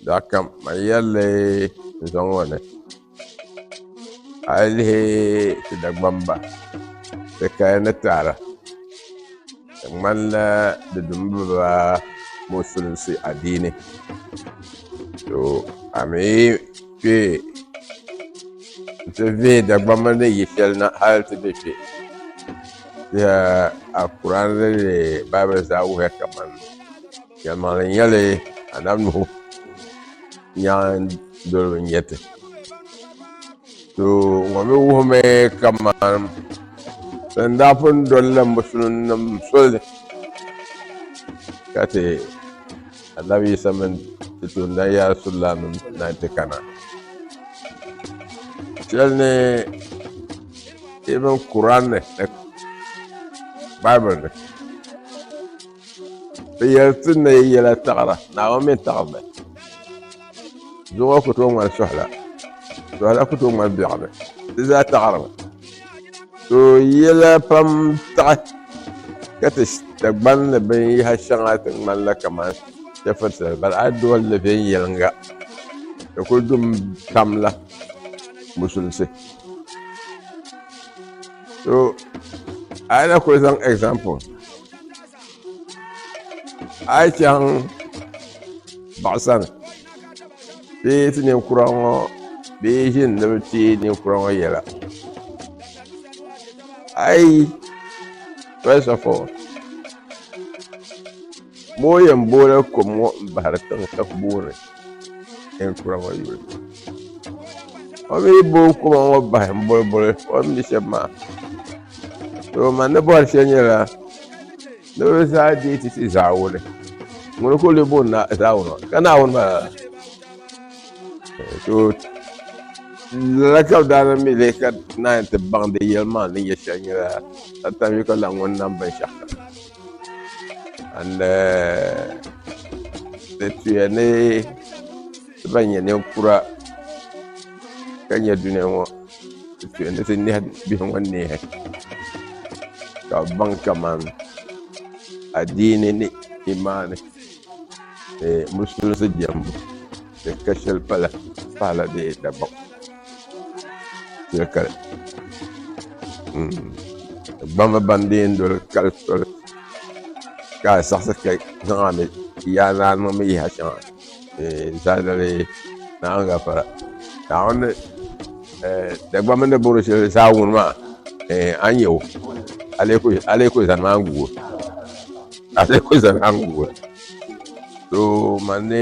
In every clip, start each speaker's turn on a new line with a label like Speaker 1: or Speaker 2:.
Speaker 1: Daa ka man yɛlli n zaŋ ŋɔ ni a yi lihi ti Dagbaŋ ba bi kaya ni taada di ŋmanila di dimi bi ba musulinsi adiini to a ni yi kpɛ n ti vihi Dagbaŋ ba ni yi shɛli na hali ti bɛ kpɛ dama Anfooni nim ni Baibul zaa wuhiya kamani Yɛlimaŋli n-nyɛli Anabi Nuhu nyaŋ doliba n-nyɛ ti. To ŋɔ mi wuhimi kaman bɛn daa pun dolila Musulinnim soli ka ti Anabi Yisa mini ti toondana Ya Rasulillaahnim na nti kana. Shɛli ni even Kur'an ni ni Bible ni. Bɛ yɛli ti ni yi yɛla taɣira Naawuni mini taɣiba doo ŋɔ ku tooi ŋmani suhila suhila ku tooi ŋmani biɛɣuni di zaa taɣirimi so yɛla pam taɣi ka ti Dagban ni binyɛha shɛŋa ti ŋmanila kamani chɛfuritali bala a yi doli li viɛnyɛliŋga di ku dumi pam la musulisi so a yi na kuli zaŋ example a yi chaŋ baɣasani bee ti ninkura ŋɔ bee ʒini ni bi ti ninkura ŋɔ yɛla a yi first of all Moo yɛn booni kom ŋɔ m-bahiri tiŋ ka ku booni yɛn kura ŋɔ yuli. O mi booi kom ŋɔ bahi m-boliboli o ni mi shɛm maa. Tooi man ni bɔhiri shɛli nyɛla ni bɛ zaa deei ti ti Zaawuni. Ŋuni ka o leei booni Zaawuni maa ka Naawuni maa lala? Tooi lala ka bɛ daa lan mi leei ka naan yi ti baŋ di yɛlimaŋli ni nyɛ shɛli nyɛla Atayuka lan ŋun nam binshɛɣukam. and di tuya ni ti ban nyɛ ninkura ka nyɛ duniya ŋɔ di tuya ni ti nehi bihi ŋɔ neehi ka bi baŋ kaman adiini ni imaani ni musulisi jɛmbu Di ka shɛli pala paala bee Dagbam shɛli kali gbamba ban di yɛn doli kali soli ka a saɣasi ka zaŋ a mi yaa ni a niŋ mi yaha shɛŋa zalidali ni a ni gafara naawuni Dagbamba ni bɔri shɛli zaa wuni maa a ni yɛ o a lee kuli zani maa n-gu o a lee kuli zani maa n-gu o too mani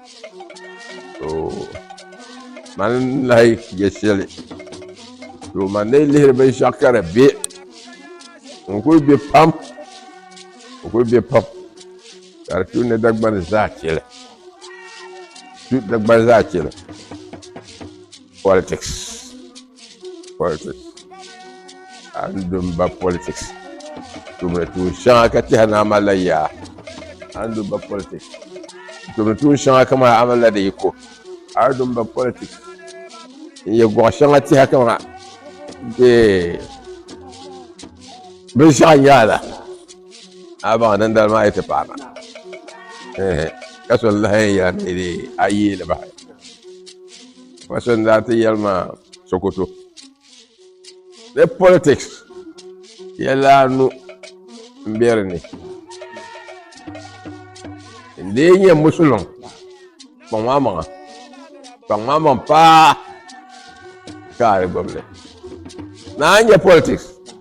Speaker 1: man lahi yɛ shɛli to man ni lihiri binshaɣu ka di bɛ n kuli bɛ pam n kuli bɛ pam ka di tu ni dagbani zaa chɛli tu dagbani zaa chɛli politics politics a ni do n ba politics tumdi tuun shɛŋa ka tiɛha ni a malila yaa a ni do n ba politics tumdi tuun shɛŋa kama a malila di yiko a ni do n ba politics n yɛ gɔɣa shɛŋa tiɛha kama ee binshaɣu nyaa la a baŋ din dali maa yi ti paana ka so lahi yɛla ni a yeeli bahi ma so n daa ti yɛli ma sokoto ni politics yɛla anu n bɛ di ni n dee nyɛ musulin kpaŋ maa maŋa kpaŋ maa maŋ paa ka a di gbibili naan nyɛ politics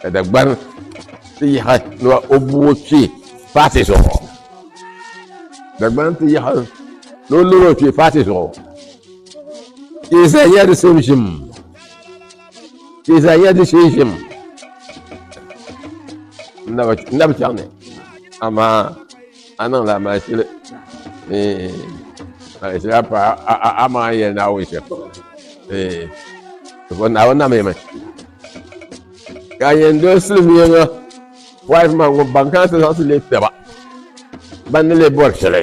Speaker 1: ka Dagbani ti yaɣi ni o bu o kpee paati zuɣu Dagbani ti yaɣi ni o niŋ o kpee paati zuɣu ka i zaa nyɛla di same ʒim ka i zaa nyɛla di shee ʒim n na bi chaŋ ni amaa A niŋla amalishili ni amalishili a pa a maŋa yɛli Naawuni shɛm zuɣu Naawuni na mi mi ka a yɛn doli silimiiŋa wise man ŋun ban kana ti zaŋ ti leei taba ban ni lee bɔri shɛli.